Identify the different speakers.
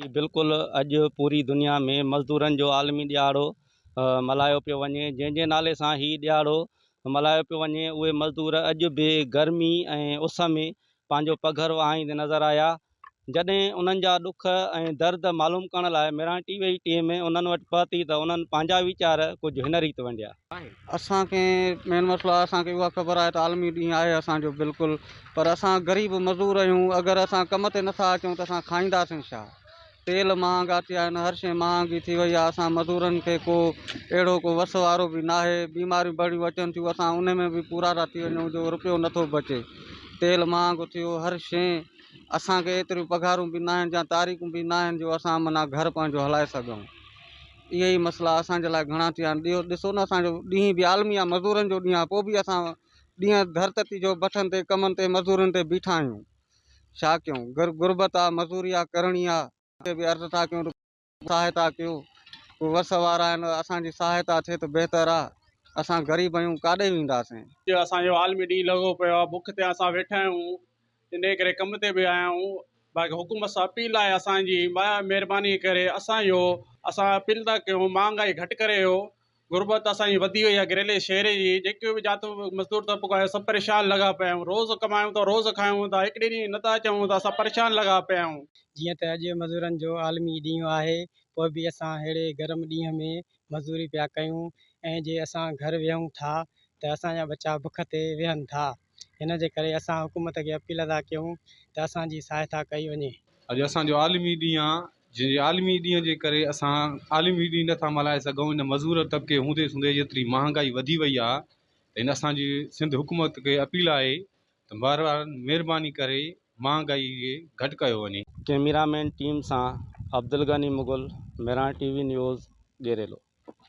Speaker 1: هي بلڪل اڄ پوري دنيا ۾ مزدورن جو عالمي ڏيهاڙو ملهايو پيو وڃي جنهن جي نالي سان هي ڏيهاڙو ملهايو پيو وڃي اهي مزدور اڄ به گرمي ۽ اس ۾ پنهنجو پگهر وهائيندي نظر آيا جڏهن انهن جا ڏک ۽ درد معلوم ڪرڻ لاء ميران ٽي وي ٽيم انهن وٽ پهتي ته انهن پنهنجا ويچار ڪجهه هن ريت ونڊيا. اسان کي
Speaker 2: مين مسئلو آهي اسان کي اها خبر آهي ته عالمي ڏينهن آهي اسان جو بلڪل پر اسان غريب مزور آهيون اگر اسان ڪم تي نٿا اچون ته اسان کائينداسين ڇا تيل مهانگا ٿيا آهن هر شيء مهانگي ٿي وئي آهي اسان مزورن کي ڪو اهڙو ڪو وس وارو به ناهي بيماريون بڙيون اچن ٿيون اسان ان ۾ به پورا ٿا ٿي وڃون جو روپيو نٿو بچي تيل مهانگو ٿيو هر شيء اسان کي ايتريون پگهارون به ناهن جا تاريخون به ناهن جو اسان معنيٰ گهر پنهنجو هلائي سگهون. اهي ئي مسئلا اسان جي لاء گهڻا ٿي ويا آهن ٻيو ڏسو نه اسان جو ڏينهن به عالمي آهي مزورن جو ڏينهن آهي پوء به اسان ڏينهن ڌرتتي جو بٺن تي ڪمن تي مزورين تي بيٺا آهيون ڇا ڪيون گر غربت آهي مزوري آهي ڪرڻي آهي اتي به عرض ٿا ڪيون سهائتا ڪيو ڪو وس وارا آهن اسان جي سهائتا ٿئي ته بهتر آهي اسان غريب آهيون ڪاڏي وينداسين. اڄ اسان جو عالمي
Speaker 3: ڏينهن لڳو پيو آهي بک تي اسان ويٺا آهيون انهيء ڪري ڪم تي به آيا آهيون باقي حڪومت سان اپيل آهي اسان جي مايا مهرباني ڪري اسان جو اسان اپيل ٿا ڪيون مهانگائي گهٽ ڪري ڏيو غربت اسان جي وڌي وئي آهي گريلي شهري جي جيڪي به جات مزدور طبقو آهي سڀ پريشان لڳا پيا آهيون روز ڪمايون ٿا روز کايون ٿا هڪ ڏينهن جي نٿا اچون ته اسان پريشان لڳا پيا آهيون. جيئن ته اڄ مزورن
Speaker 4: جو عالمي ڏينهن آهي پوء به اسان ههڙي گرم ڏينهن ۾ مزدوري پيا ڪيون ۽ جي اسان گهر ويهون ٿا ته اسان جا ٻچا بک تي ويهن ٿا. ان جي ڪري اسان حڪومت کي اپيل ٿا ڪيون ته اسان جي سهائتا ڪئي وڃي. اڄ اسان جو عالمي
Speaker 5: ڏينهن آ جنهن جي عالمي ڏينهن جي ڪري اسان عالمي ڏينهن نه ٿا ملهائي سگهون ان مزور طبقي هوندي سوندي جيتري مهانگائي وڌي وئي آ ته ان اسان جي سنڌ حڪومت کي اپيل آهي ته مهربان مهرباني ڪري مهانگائي کي گهٽ ڪيو وڃي. ڪيميرا مين
Speaker 1: ٽيم سان Abdul Ghani Mughal Miran T V news ڏيريلو.